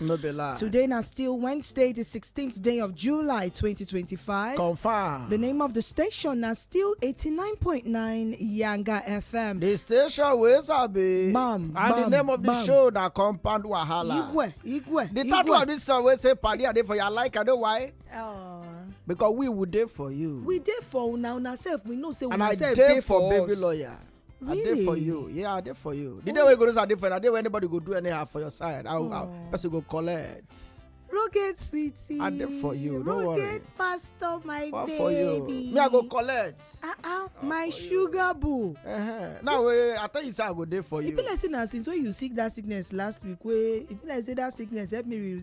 No be lie. Today na still Wednesday, the 16th day of July 2025. Confirm. The name of the station na still 89.9 Yanga FM. The station wey sabi. Bam, And the bam, name of the bam. show na compound wahala. Igwe, Igwe, The title of Igwe. this song wey say padi I dey for your like I know why. Uh, Because we would dey for you. we dey for una una sef we know say and una I sef dey for baby us. lawyer. Really? I did for you. Yeah, I did for you. The oh. day we go to Sunday for you, I did where anybody go do anyhow for your side. I'll, oh. I'll person go collect. Rocket sweetie. I did for you. Don't Rocket worry. pastor, my what baby. for you? Me, I go collect. Uh uh, my sugar you. boo. Uh-huh. Now, we, I tell you, say I go there for you. It be like say na since when you sick that sickness last week, wey it be like say that sickness help me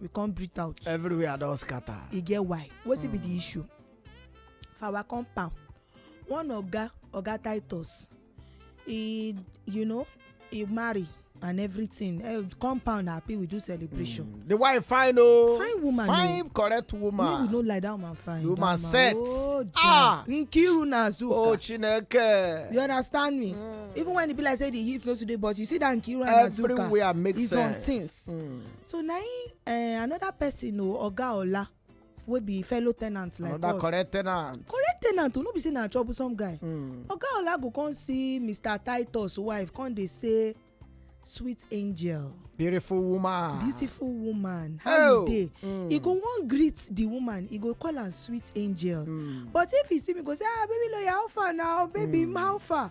we come breathe out everywhere don scatter e get why wetin be the hmm. issue for our compound one oga oga titus he you know he marry and everything uh, compound happy we do celebration. Mm. the wife fine o oh. fine woman o oh. fine correct woman make we no lie that woman fine woman that set oh, ah nkiru na azuka oh chineke you understand me mm. even when e be like say the heat no too dey but you see that nkiru and azuka everywhere make sense is on things mm. so na him uh, another person o oga ola wey be fellow tenant like another us another correct tenant correct tenant o no be say na troublesome guy mm. oga ola go come see mr titus wife come dey say sweet angel beautiful woman beautiful woman how oh. you dey mm. he go wan greet the woman he go call am sweet angel mm. but if he see me go say ah baby lawyer how far now baby mm. how far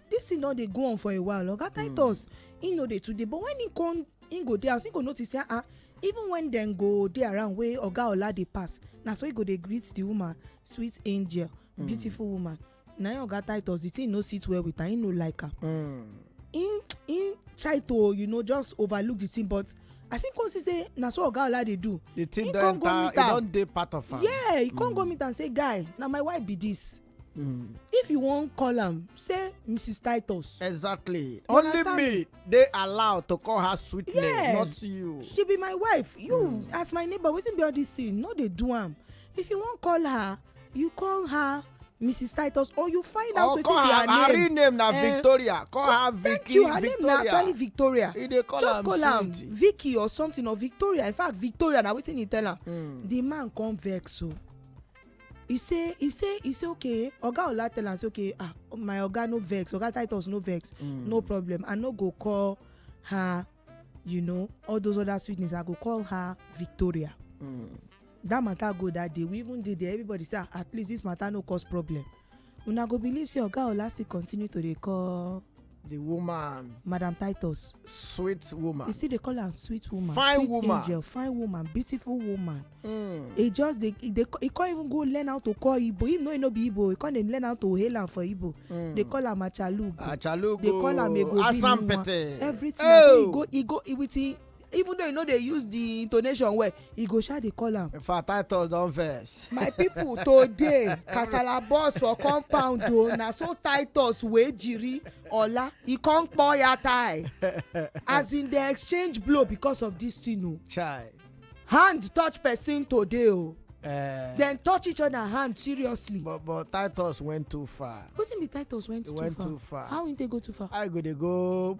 this thing don dey go on for a while oga hmm. titus he no dey too dey but when he come he go dey house he go notice say ah even when dem go dey around wey oga ola dey pass na so he go dey greet the woman sweet angel hmm. beautiful woman na him oga titus the thing no sit well with am he no like am hmm. he he try to you know just overlook the thing but as him come see say na so oga ola dey do the thing don enter e don dey part of am yeah he come go hmm. meet am say guy na my wife be this Mm. if you wan call am say mrs titus exactly you only understand? me dey allowed to call her sweet yeah. name not you she be my wife you mm. as my neighbor wetin be all this thing no dey do am if you wan call her you call her mrs titus or you find out wetin be her name her real name na eh, victoria call her vicky thank you her name na actually victoria just call am vicky or something or victoria in fact victoria na wetin he tell am hmm. the man come vex o oh. he say he say he say okay oga ola tell am say okay ah my oga no vex oga titus no vex mm. no problem i no go call her you know all those other sweet names i go call her victoria mm. that matter go that day we even dey there everybody say ah, at least this matter no cause problem una go believe say oga ola still continue to dey call the woman madam titus sweet woman he still dey call am sweet woman fine sweet woman angel fine woman beautiful woman mm. he just dey he dey he come even go learn how to call igbo him know he no be igbo he come dey learn how to hail am for igbo mm. they call am achalugo achalugo they call am egobi asampete everything oh. so he go he go with him even though you no dey use the intonation well e go sha dey call am. in fact titus don vex. my people today kasala burst for compound o oh, na so titus wey jiri ola e come kpo ya tie as in dey exchange blow because of this thing o. Oh. chai. hand touch person today o. Oh. Uh, eh. then touch each other hand seriously. but but titus went too far. wetin be titus went, he too, went far? too far. how he take go too far. i go dey go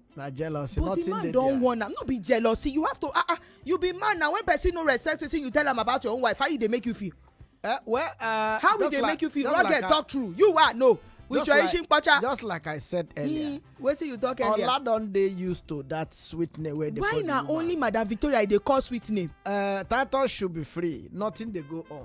na jealousy but the man don warn am no be jealousy you have to ah ah you be man na when person no respect wetin you tell am about your own wife how e dey make you feel. Uh, well, uh, how we dey make you feel rugged like talk true you wa no with your ishin pacha. just like i said earlier. wetin you talk earlier. ola don dey used to that sweet name wey dey call you. why na only madam victoria dey call sweet name. Uh, title should be free nothing dey go on.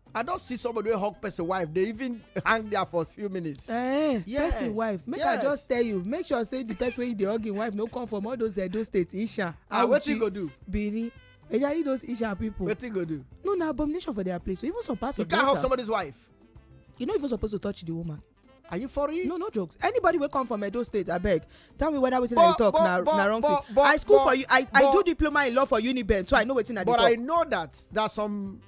i don see somebody wey hug person wife dey even hang there for a few minutes. Eh, eh yes person wife make yes. i just tell you make sure say the person wey you dey hug im wife no come from all those edo states isha ah wetin go do benin ejari those isha people wetin go do no na abomination for their place so even some parts you of delta you can't hug somebody's wife you no even suppose to touch the woman are you for real no no jokes anybody wey come from edo state abeg tell me whether wetin i dey talk na na wrong thing i school for you i i do diploma in law for uniben so i know wetin i dey talk but i know that there's some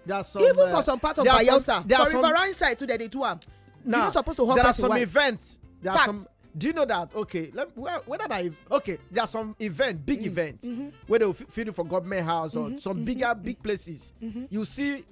there's some even for uh, some parts of bayelsa for riverine side too dem dey do am you no suppose to hug person wife there are some events there are some do you know that okay let well whether that okay there are some event big mm. events mm-hmm. where they will feed you for government house or mm-hmm. some mm-hmm. bigger big places you see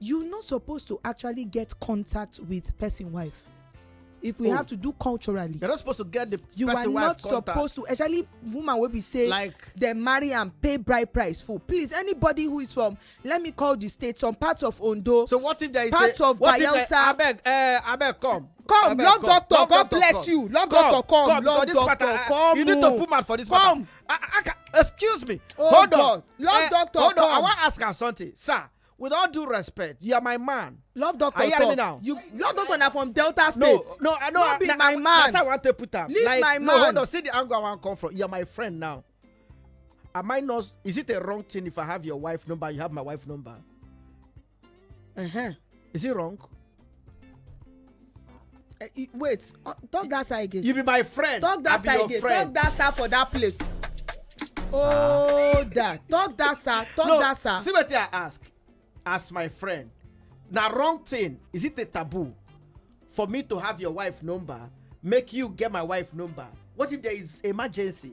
you no suppose to actually get contact with person wife if we oh. have to do culturally you're not supposed to get the you person wife contact you are not supposed to especially woman wey be say like they marry am pay bride price full please anybody who is from let me call the state some parts of ondo so what if there is parts a, of what bayelsa if there, abeg uh, abeg come come love doctor love god doctor, bless come. you love come, doctor come, come love doctor matter, come you need to put mouth for this come. matter I, I, I, excuse me oh hold God. on love uh, doctor hold come. on i wan ask am something sir with all due respect you are my man love doctor talk me now you love doctor na from delta state no no i know no be na, my man that's how i wan take put am leave like, my man no hold on see the angle i wan come from you are my friend now am i not is it a wrong thing if i have your wife number you have my wife number uh-huh. is it wrong Uh, wait uh, talk that side again. you be my friend talk that side again friend. talk that side for that place. oh da talk that side talk no, that side. see wetin i ask as my friend na wrong thing is it a taboo for me to have your wife number make you get my wife number what if there is emergency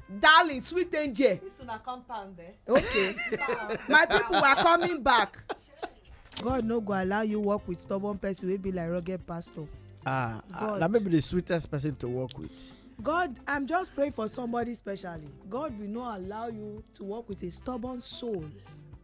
darling sweet angel This una compound eh? okay my people are coming back god no go allow you work with stubborn person wey be like rugged pastor ah, ah God. na maybe the sweetest person to work with god i'm just praying for somebody specially god will not allow you to work with a stubborn soul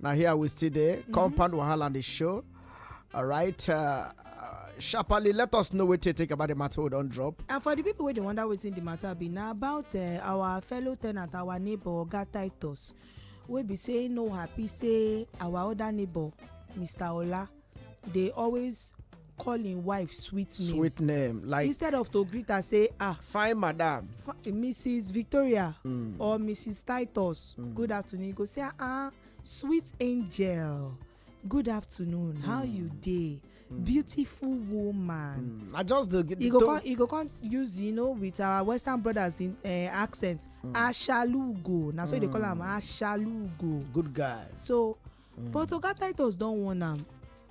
Now here we still there. Mm-hmm. Compound Wahala on the show. All right. Uh, sharply let us know what you think about the matter we don't drop. and for the people wey dey wonder wetin the matter be na about uh, our fellow tenant our neighbor oga titus wey be say no happy say our other neighbor mr ola dey always call him wife sweet name sweet name like instead of to greet her say ah fine madam mrs victoria mm. or mrs titus mm. good afternoon you go say ah sweet angel good afternoon mm. how you dey mm. beautiful woman mm. i just dey you go come you go come use you know with our western brothers in uh, accent mm. ashalugo na so mm. you dey call am mm. ashalugo good guy so mm. but oga titus don warn am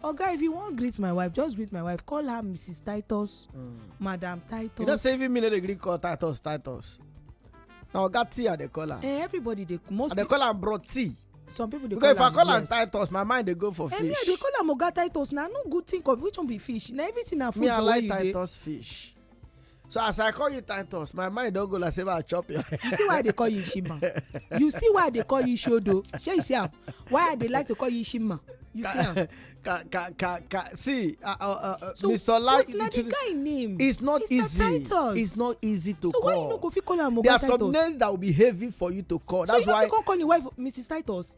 oga if you wan greet my wife just greet my wife call her mrs titus mm. madam titus you know say even me no dey gree call titus titus na oga tea i dey call am eh everybody dey most i dey call am bro tea some people dey call am because if i call am titus my mind dey go for fish eh me i dey call am oga titus na no good thing of which one be fish na everything na food for where you dey me i like titus fish so as i call you titus my mind don go like say i chop you. you see why i dey call you shima you see why i dey call you shodo shey you see am why i dey like to call you shima you see am. ka ka ka ka see uh, uh, uh, uh so mr lai so the guy name it's not it's easy titus. it's not easy to so call so why you no go fit call am oga titus there are some names that will be heavy for you to call so that's why so you no fit come call your wife mrs titus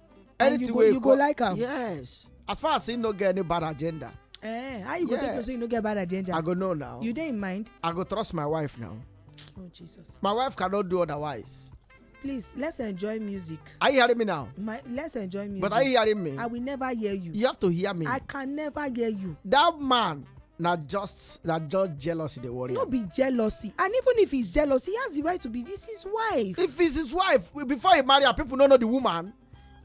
anything you go, you go like am yes as far as he no get any bad agenda eh how you go take know say you no get bad agenda i go know now you dey in mind i go trust my wife now oh jesus my wife cannot do otherwise please let's enjoy music. are you hearing me now. my let's enjoy music. but are you hearing me. i will never hear you. you have to hear me. i can never hear you. that man na just na just jealousy dey worry no be jealousy and even if it's jealousy he has the right to be this his wife if it's his wife before he marry her people no know the woman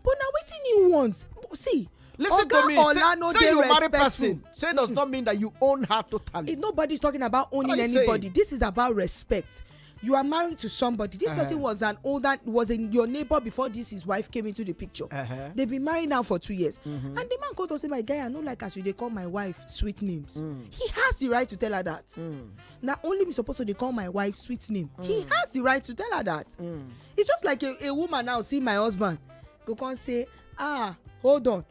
but na wetin he want see listen to me say say you marry person say does not mean that you own her totally nobody's talking about owning anybody this is about respect you are married to somebody this uh -huh. person uh-huh. was an older was in your neighbor before this his wife came into the picture uh -huh. they've been married now for two years mm -hmm. and the man called to say my guy i no like as you dey call my wife sweet names mm. he has the right to tell her that mm. na only me suppose to dey call my wife sweet name mm. he has the right to tell her that mm. it's just like a, a woman now see my husband go come say ah hold on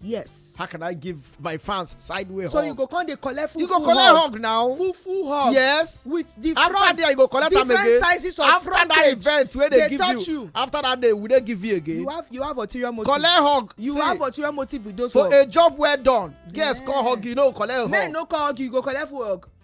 yes how can i give my fans sideways so hug so you go come dey collect full you go collect hug now full full hug yes with different after there you go collect am again different sizes of after front that event wey dey give you, after that day we dey give you again you have you have ulterior motive collect hug you have ulterior motive with those so a job well done girls come hug you no collect hug men no come hug you go collect full hug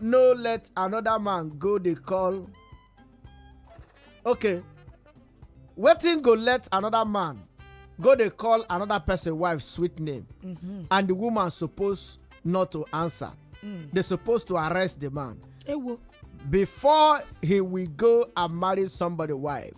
no let another man go dey call okay wetin go let another man go dey call another person wife sweet name Mhm. and the woman suppose not to answer Mm. they suppose to arrest the man ewo before he will go and marry somebody wife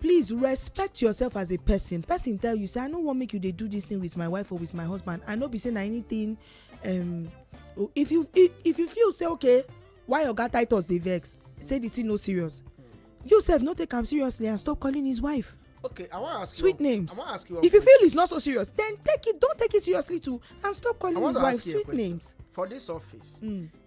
please respect yourself as a person person tell you say i no wan make you dey do this thing with my wife or with my husband i no be say na anything um, oh, if you if, if you feel say okay why oga titus dey vex say the thing no serious you sef no take am seriously and stop calling his wife okay i wan ask sweet you names i wan ask you if you feel it's not so serious then take it don't take it seriously too and stop calling his wife sweet names for this office mm.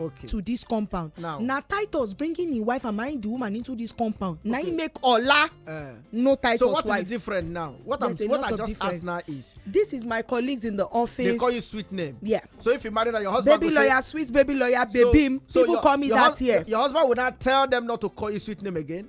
okay. to this compound now na titus bringing him wife and marrying the woman into this compound okay. na him make ola uh, no titus wife so what wife. is different now what There's i'm what i just difference. ask now is this is my colleagues in the office they call you sweet name yeah so if you marry na your husband baby lawyer say, sweet baby lawyer baby so, so people your, call me that year your husband would not tell them not to call you sweet name again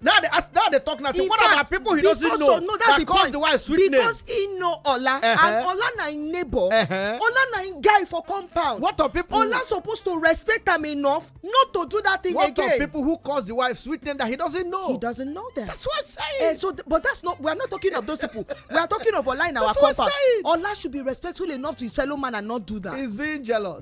now they ask now they talk now say what fact, about people he doesn't know no, that cause point. the wife sweet name because he know ola uh -huh. and ola na him neighbor uh -huh. ola na him guy for compound what of people ola suppose to respect am enough not to do that thing what again what of people who cause the wife sweet name that he doesn't know he doesn't know them that's what i'm saying uh, so th but that's not we are not talking of those people we are talking of ola in our compound ola should be respectful enough to his fellow man and not do that he's being jealous